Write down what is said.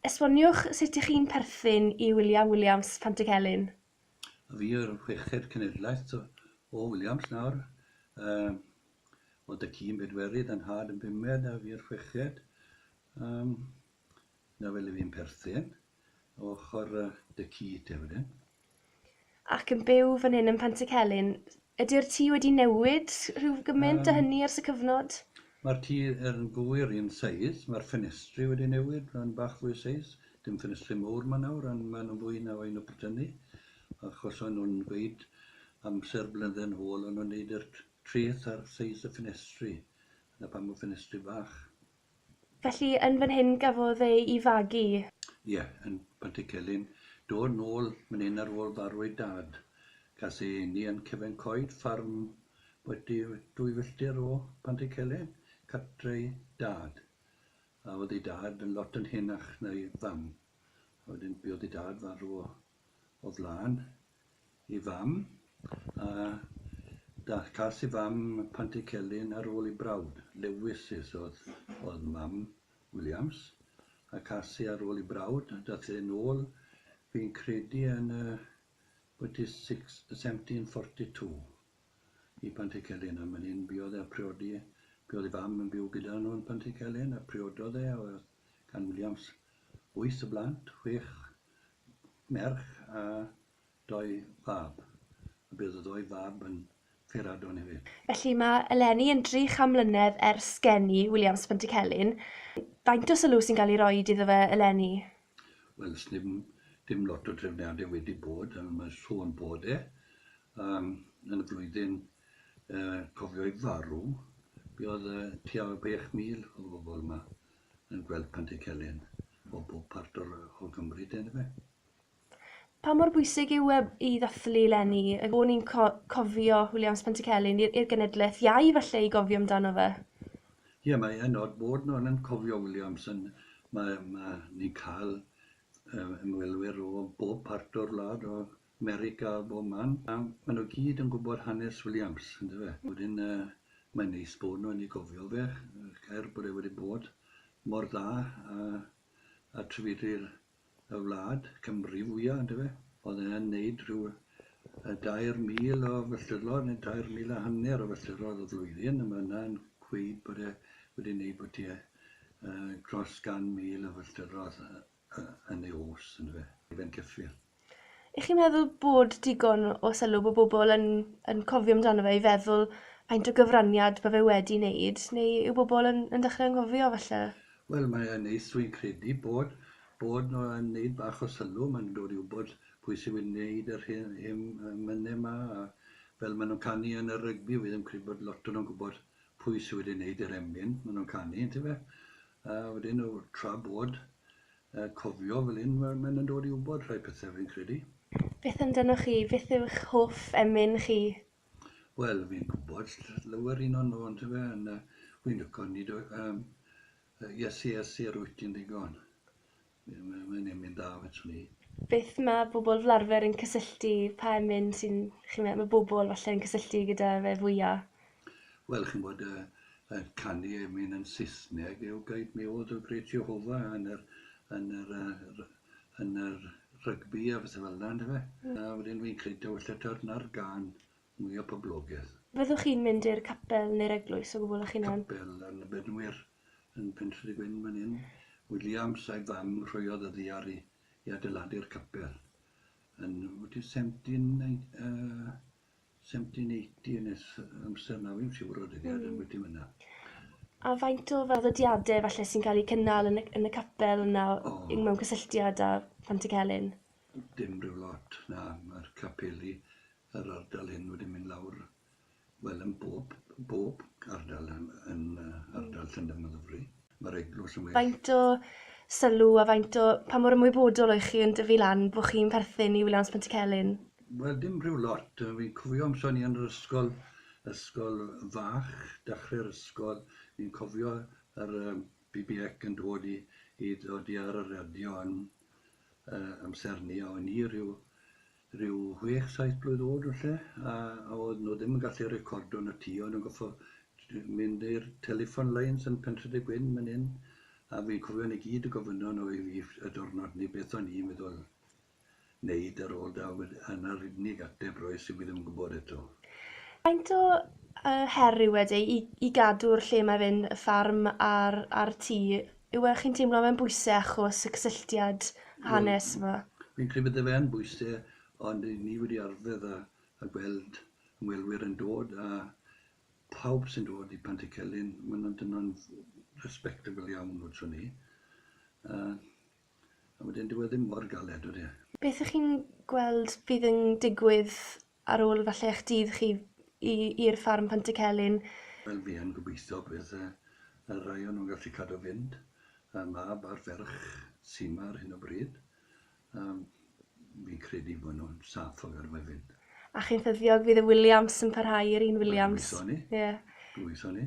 Esboniwch sut ych chi'n perthyn i William Williams, Pantycelyn. A fi yw'r chweched cenedlaeth o Williams nawr. Oedd y ci'n bedwerydd, 'y nhad yn bumed a fi yw'r chweched. Na fel i fi'n perthyn. Ochr dy ci te wedyn. Ac yn byw fan hyn yn Pantycelyn. Ydy'r tŷ wedi newid rhyw gymaint um, a hynny ers y cyfnod? Mae'r tŷ yn fwyr un seis, mae'r ffenestri wedi newid, mae'n bach fwy seis. Dim ffenestri mowr mae nawr, ond maen nhw'n fwy na fain o brytynu. Achos o'n nhw'n gweud amser blynedd yn ôl, o'n nhw'n neud yr treth ar seis y ffenestri. Dyna pam y ffenestri bach. Felly yn fan hyn gafodd e i fagu? Ie, yn Pantycelyn. Dod nôl man hyn ar ôl farw ei dad. Gas ei eni yn cefen coed ffarm bwyty dwy filltir o Pantycelyn, cartre'i dad. A oedd ei dad yn lot yn henach na'i fam. A wedyn buodd ei dad farw o flaen i fam, a cas i fam Pantycelyn ar ôl i brawd, Lewis, sydd oedd mam Williams, a cas i ar ôl i brawd, daeth e yn ôl, fi'n credu yn y 1742, i Pantycelyn, a man hyn buodd e a priodi, buodd ei fam yn byw gyda nhw yn Pantycelyn, a priododd e, a oedd gan Williams wyth o blant, chwech merch a dou fab, a bydd y ddou fab yn Feradon hefyd. Felly mae eleni yn dri cham mlynedd ers geni Williams Pantycelyn. Faint o sylw sy'n cael ei roed iddo fe eleni? Wel, sneb dim lot o drefniadau wedi bod, ond mae sôn bod e um, yn y flwyddyn uh, cofio'i farw, buodd uh, tua 6,000 o bobl yma. yn gweld Pantycelyn o bob part o'r, o Gymru de, yndyfe? Pa mor bwysig yw e i ddathlu leni? Ac o'n i'n co cofio Williams Pantycelyn i'r i'r genedlaeth iau falle i gofio amdano fe? Ie, mae e'n od bod nhw'n yn cofio Williams yn... Mae mae ni'n cael ymwelwyr o bob part o'r wlad o Mary Gall Bowman, a ma' nhw gyd yn gwbod hanes Williams on'd yfe? Wedyn yy mae'n neis bod nhw wedi gofio fe, er bod e wedi bod mor dda a a trefydwyr y wlad, Cymru fwya on'd yfe? O'dd e yn neud rhyw yy dair mil o filltirodd neu dair mil a hanner o filltirodd y flwyddyn, a ma' hwnna yn gweud bod e wedi neud bwtie yy dros gan mil o filltirodd yy. yn ei os, yn fe, i fe'n cyffil. Ych chi'n meddwl bod digon o sylw bod bobl yn, yn cofio amdano fe i feddwl faint o gyfraniad mae fe wedi wneud, neu yw bobl yn, yn dechrau anghofio falle? Wel, mae e'n neis, dwi'n credu, bod, bod nhw yn wneud bach o sylw, maen nhw'n dod i wybod pwy sy'n wneud yr hyn, hyn mynnau yma, a fel maen nhw'n canu yn y rygbi, fi ddim credu bod lot o'n nhw'n gwybod pwy sydd wedi wneud yr emyn maen nhw'n canu, yntyfe? A wedyn o tra bod, yy cofio fel hyn ma' mae'n yn dod i wbod rhai pethe fi'n credu. Beth amdanoch chi, beth yw'ch hoff emyn chi? Wel fi'n gwbod ll- lawer un o nw yndyfe yn yy wi'n lico nid o- yym yy Iesu Iesu yr wyt ti'n ddigon. Mae'n emyn da fedrwn i. Beth ma' bobl fel arfer yn cysylltu, pa emyn sy'n, chi'n meddwl, ma' bobl falle yn cysylltu gyda fe fwya? Wel, chi'n gwybod, y canu emyn yn Saesneg yw Guide Me O Thou Great Jehovah yn yr yn yr yn yr rygbi a phethau fel yna, ynde fe? A wedyn fi'n credu taw falle ta'r 'na'r gân mwya poblogedd. Fyddwch chi'n mynd i'r capel neu'r eglwys o gwbl 'ych hunan? Capel yn y Bedwyr. yn Pentre Gwyn fan hyn. Williams a'i fam rhoiodd y ddaear i i adeiladu'r capel yn wyt ti'n 17 uh, 1780 nes amser na fi'n siŵr o dyddiad mm. yn wyt ti'n fyna. A faint o fel ddodiadau falle sy'n cael eu cynnal yn y, yn y capel yna oh. mewn cysylltiad â Pant y Celyn? Dim rhyw lot, na, mae'r capeli yr ardal hyn wedi mynd lawr Wel, yn bob, bob ardal yn, yn uh, ardal Llundain a Ddyfri, mae'r eglwys yn well. Faint o sylw a faint o... Pa mor ymwybodol o'i chi yn dyfu lan bod chi'n perthyn i Wiliams Pontycelyn? Wel, dim rhyw lot. Fi'n cofio amser ni yn yr ysgol, ysgol fach, dechrau'r ysgol, fi'n cofio yr uh, BBEC yn dod i, i ddod i ar y radio yn uh, amser ni, a o'n i rhyw ryw chwech saith blwydd o'd falle, a o'dd nw ddim yn gallu recordo yn y tŷ, o'n nw'n goffo' j- mynd i'r telephone lines yn Pentre de Gwyn myn 'yn, a fi'n cofio nw gyd yn gofynno nw i fi y diwrnod 'ny beth o'n i'n meddwl neud ar ôl 'da, wed- a 'na'r unig ateb roes i fi ddim yn gwbod eto. Faint o yy her yw e de i i gadw'r lle mae fe'n y ffarm a'r a'r tŷ Yw e, chi'n teimlo mae'n bwyse achos y cysylltiad hanes yma? Fi'n credu bydde fe yn bwyse ond ry'n ni wedi arddedd a a gweld ymwelwyr yn dod a pawb sy'n dod i Pantycelyn ma' nhw'n dynon respectable iawn wrthon ni a a wedyn dyw e ddim mor galed odi e? Beth y'ch chi'n gweld fydd yn digwydd ar ôl falle eich dydd chi i i'r ffarm Pantycelyn? Wel fi yn gobeithio bydd y y rai o nhw'n gallu cadw fynd, y mab a'r ferch sy' 'ma ar hyn o bryd. Yym fi'n credu bod nhw'n saff o gadw fe fynd. A chi'n ffyddiog fydd y Williams yn parhau yr un Williams? Wel gobeithio 'ny. Ie. Gobeithio 'ny.